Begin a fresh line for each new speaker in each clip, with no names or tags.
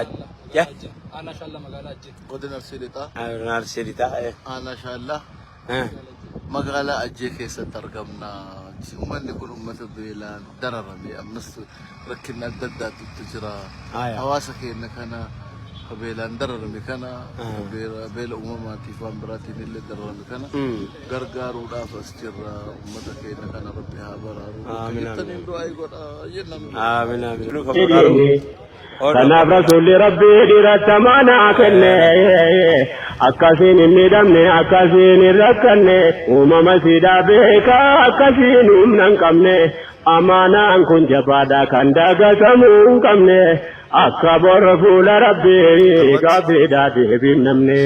Adda. Aanaa
Shaallaa magaalaa Ajjee. Godina Arsii Lixaa.
Aanaa Arsii
Lixaa. Aanaa Shaallaa.
Magaalaa Ajjee keessatti argamna. Uummanni kun uummata beelaan dararamee ammas rakkinni adda addaatu itti jira. Hawaasa keenya kana beelaan dararame kana beela uumamaatiif waan biraatiin illee dararame kana gargaaruudhaaf as jirra ummata keenya kana rabbi
haa baraaru bakka Aamin,
aamin, jirtaniin aamin. du'aa godha jennaan Aamin, aamin.
Nuuf haa baraaru. Ol Kanaaf
rasuulli rabbii dhiiratta maanaa kenne akkasiin hin miidhamne akkasiin hin rakkanne uumama siidaa beekaa akkasiin humna hin qabne amaanaan kun jabaadha kan dagatamuu hin qabne akka borra fuula rabbii gaaffiidhaa deebiin namne.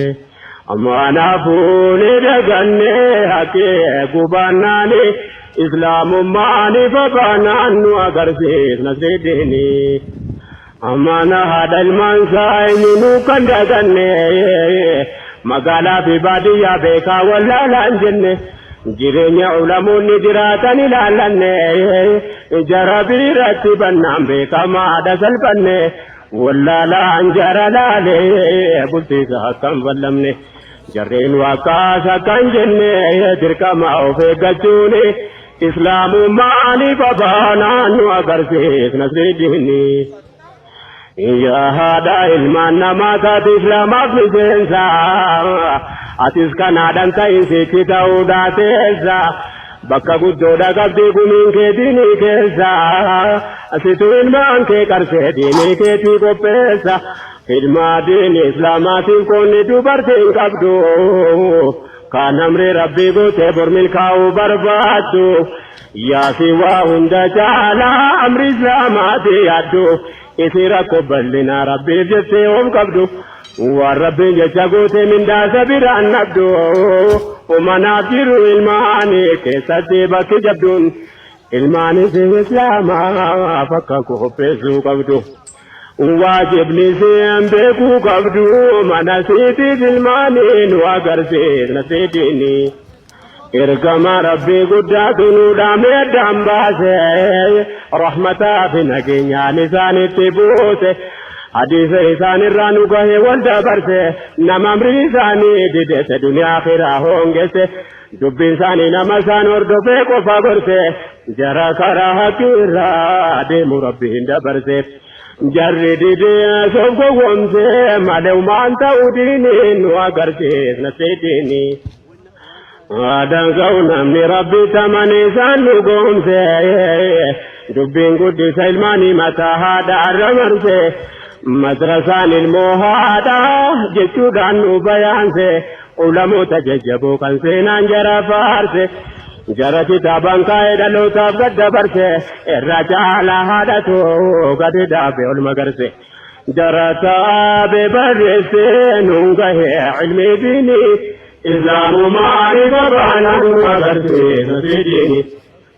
Kanaafuu ni daganne haqqi eeguu baannaan Islaamummaa ni babaanaan nu agarsiis Nasriddiini. Mana haadha ilmaansaa eenyunuu kan daganne Magaalaafi baadiyyaa beekaa wallaalaan jenne Jireenya ulamoonni jiraatan ilaallanne Ija Rabiirratti bannaan beekamaadha salphanne Wallaalaan jara laalee bultiisa akkan ballamne jarreen waakkaas akkan jenne dirqama of eeggachuun islaamummaa ni fafaanaan nu agarsiis nasriiddiini. Yaa haadha ilmaan namaa taate islaamaaf miseensa atis kanaadhaan ta'in sitti ta'uu daateessa. Bakka guddoodha qabdi gumiin kee diinii keessa asitu ilmaan kee qarsee diinii keetii qopheessa ilmaa diinii islaamaatiif qoonni dubartiin qabdu kaan amri rabbii gootee bor milkaa'uu barbaaddu yaasi waa hunda caalaa amri islaamaatii yaaddu Isii rakkoo bal'inaa rabbiif jettee yoom qabdu waan rabbiin jecha guutee mindaa isa biraan dhabdu umanaaf jiru ilmaanii keessatti bakki jabduun ilmaan isii islaamaaf akka qopheessuu qabdu waajibni isiin beekuu qabdu mana isiitiif ilmaanii nu agarsiisna seediinii. Ergamaa Rabbii guddaatu nu dhaame addaan baase rahmataa fi nageenyaan isaanitti buuse hadiisa isaanirraa nu gahe wal dabarse nama amrii isaanii didese duniyaa kiraa hoongesse dubbiin isaanii nama isaan hordofee qofa gorse jara karaa haqiirraa deemu rabbiin dabarse jarri didee soof gowwomse malee umaan ta'uu diinii nu agarsiisna seediinii. Waadaan ka'u namni rabbi tamane isaan dhugoomse dubbiin guddisa ilmaanii mataa haadha arra marse madrasaan ilmoo haadha jechuudhaan nu bayaanse ulamoota jajjaboo kan seenaan jara faarse jara kitaabaan kaa'ee dhalootaaf gad dabarse irra caalaa haadhatu gadi dhaabe ol magarse. Darasaa bebarreessee nuun gahee ilmi diini islaamumaa ifa baanaan nu agarsiisa fidini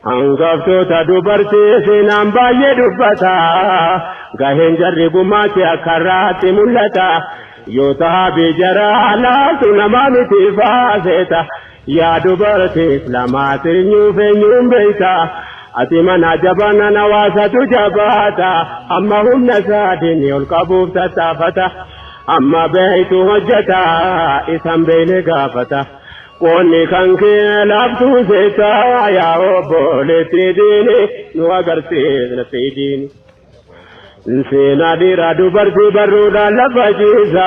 hangaftoota dubartii seenaan baay'ee dubbata gaheen jarri gumaache akka irraatti mul'ata yoo tahaa bijaraa laatu namaa miti faaseeta Yaa dubara tee islamaa seenyuuf eenyuun beeyta Ati manaa jabanan hawaasatu jabaata Amma humna isaa diinni ol qabuuf tattaafata Amma beeytu hojjata isa hin beeyne gaafata Qoonni kan kee laaftuu seeta yaa obboleettii diini nu agarsiisna fiidiini. Seenaa dhiiraa dubartii barruudhaan lafa ciisa.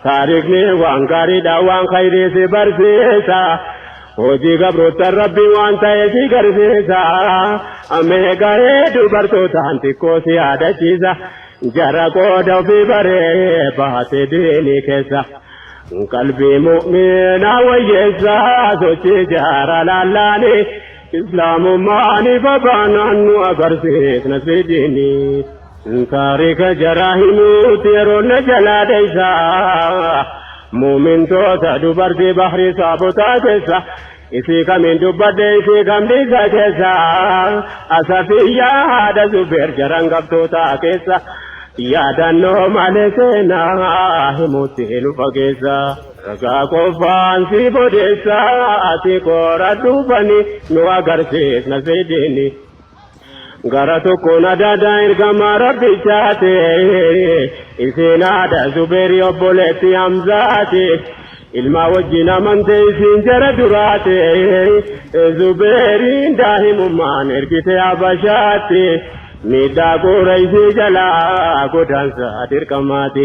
Taarikni waan gaariidha waan khayrii si barsiisa. Hojii gabroottan rabbi waan ta'e si garsiisa. Amee gahee dubartootaan xiqqoo si yaadachiisa. Jara qooda ofii baree baate diinii keessa. Qalbii mu'minaa wayyeessa sochii jaara laallaanii. Islaamummaan ifa baanaan nu agarsiisna siidini. Taarika jaraa himuutti yeroo na jalaa dheessa. Muumintoota dubartii bahri saabotaa keessa. Isii kamiin dubbadhe isii kam dhiisa keessa. Asafiyyaa haadha zubeer jaran qabtootaa keessa. Yaadannoo malee seenaa himuutti nu fageessa. Ragaa qofaan siif odeessa ati qoradhu fani nu agarsiifna siidini Gara tokkoon adaadaa ergamaa rabbichaati isiin haadha zubeeri obboleetti hamzaati ilmaa wajjin amante isiin jara duraati zubeeriin daahimummaan ergite habashaatti miidhaa qureeshii jalaa godaansa dirqamaati.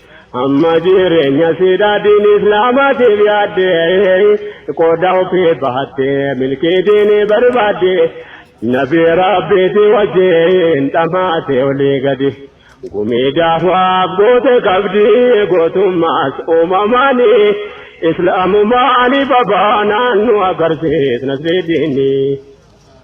Amma jireenya siidhaa diin islaamaatiif yaadde qooda ofii bahatte milkii diini barbaadde nabi rabbiiti wajjin dhamaate olii gadi gumii daawaaf goote qabdi gootummaas uumamaani islaamumaa alibabaa naannu agarsiis nasrii diinii.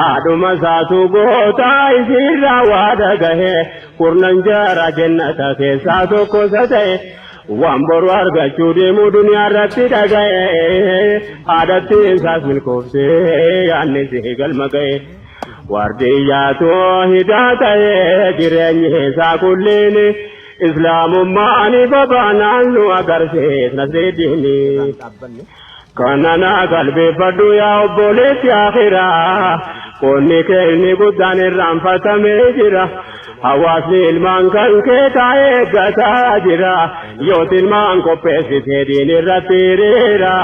Haadhuma isaatu goota isiirraa waa dhagahe kurnan jaara jennata keessaa tokko isa ta'e waan boru argachuu deemu duniyaa irratti dhagahe haadhatti isaas milkoofte yaanni isii galma ga'e waardiyyaatu hidaa ta'e jireenyi isaa kulliin islaamummaan ifa baanaan nu agarsiis nasriiddiini. Kananaa qalbeeffadhu yaa obboleessi akhiraa Qoonni kee inni guddaan irraanfatamee jira Hawaasni ilmaan kan kee taa'ee eeggataa jira Yooti ilmaan qopheessitee diin irratti hiriira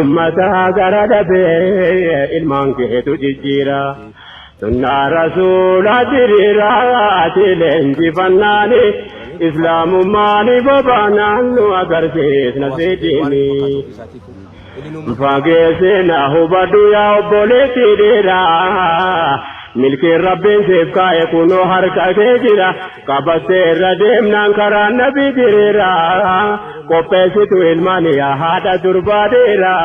Ummata gara dhabee ilmaan keetu jijjiira Sunnaa rasuulaa diriiraa ati leenjifannaani islaamummaani bobaanaan nu agarsiisna sidiini. Fageessina hubadhu yaa obboleetti dhiiraa milkiin rabbiin siif kaa'e kunoo harka kee jira qabattee irra deemnaan karaa nabi diriiraa qopheessitu ilmaan yaa haadha durbaa dhiiraa.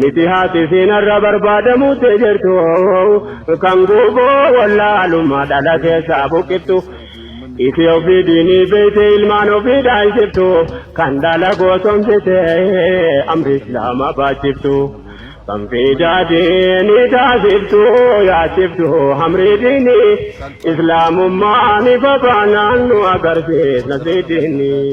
Miti haati siinarra barbaadamuu tee jirtu kan guuboo wallaalummaa dhala keessaa buqqiftu. Isi ofii diinii beeyte ilmaan ofii dhaalchiftu kan dhala goosomsite amri islaama baachiftu. Kan fiidaa diinii taasiftu yaachiftu amrii diinii islaamummaa ni babaanaan nu agarsiis nasrii diinii.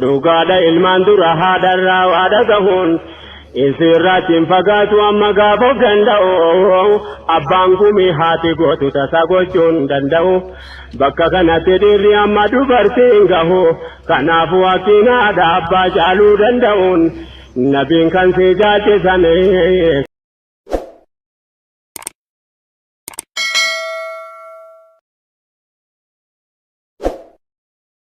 Dhugaadha ilmaan dura haadharraa waa dhagahuun isirratti hin fagaatu amma gaafa of danda'u abbaan gumii haati gootu tasaa gochuun danda'u bakka kanatti dhiirri amma dubartiin gahu kanaaf waaqtiin haadha abbaa caaluu danda'uun nabiin kan si jaalchisame.